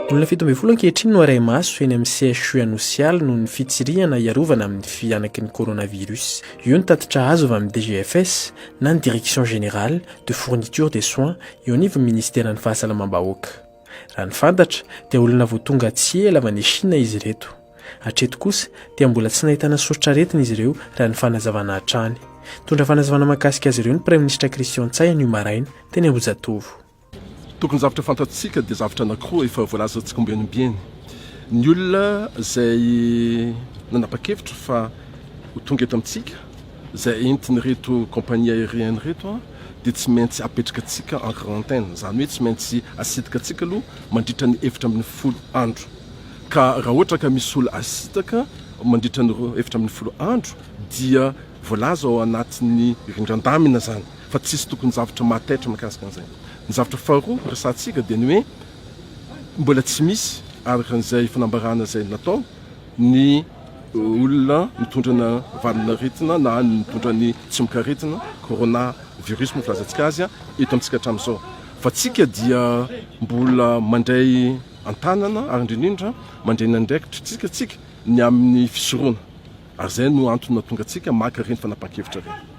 Olona fito ambin'ny folo ankehitriny no arahi-maso eny amin'ny CHU Anosialy noho ny fitsirihana hiarovana amin'ny fihanaky ny coronavirus. Io ny tatitra azo avy amin'ny DGFS na ny Direction Générale de Fourniture des Soins eo anivon'ny Ministeran'ny Fahasalamam-bahoaka. Raha ny fantatra dia olona vao tonga tsy ela avy any Shina izy ireto. Hatreto kosa dia mbola tsy nahitana soritr'aretina izy ireo raha ny fanazavana hatrany. Nitondra fanazavana mahakasika azy ireo ny Praiminisitra Christian Ntsay anio maraina teny Ambohijatovo. Tokon-javatra fantatsika dia zavatra anankiroa efa voalaza tsikombianibiany. Ny olona izay nanapa-kevitra fa ho tonga eto amintsika, izay entin'ireto compagnie aérienne ireto, dia tsy maintsy apetraka antsika en quarantaine, izany hoe tsy maintsy asitaka antsika aloha mandritra ny efatra ambin'ny folo andro. Ka raha ohatra ka misy olona asitaka mandritra ny efatra ambin'ny folo andro dia voalaza ao anatin'ny rindran-damina izany fa tsisy tokony zavatra mahataitra mikasika an'izay. Ny zavatra faharoa resahantsika dia ny hoe mbola tsy misy araka izay fanambarana izay natao, ny olona mitondra ny valin'aretina na ny mitondra ny tsimokaretina, corona virus moa filazantsika azy, eto amintsika hatramin'izao. Fa tsika dia mbola mandray an-tanana ary indrindra indrindra mandray ny andraikitry tsika tsika ny amin'ny fisoroana. Ary izay no antony nahatonga antsika maka ireny fanapahan-kevitra ireny.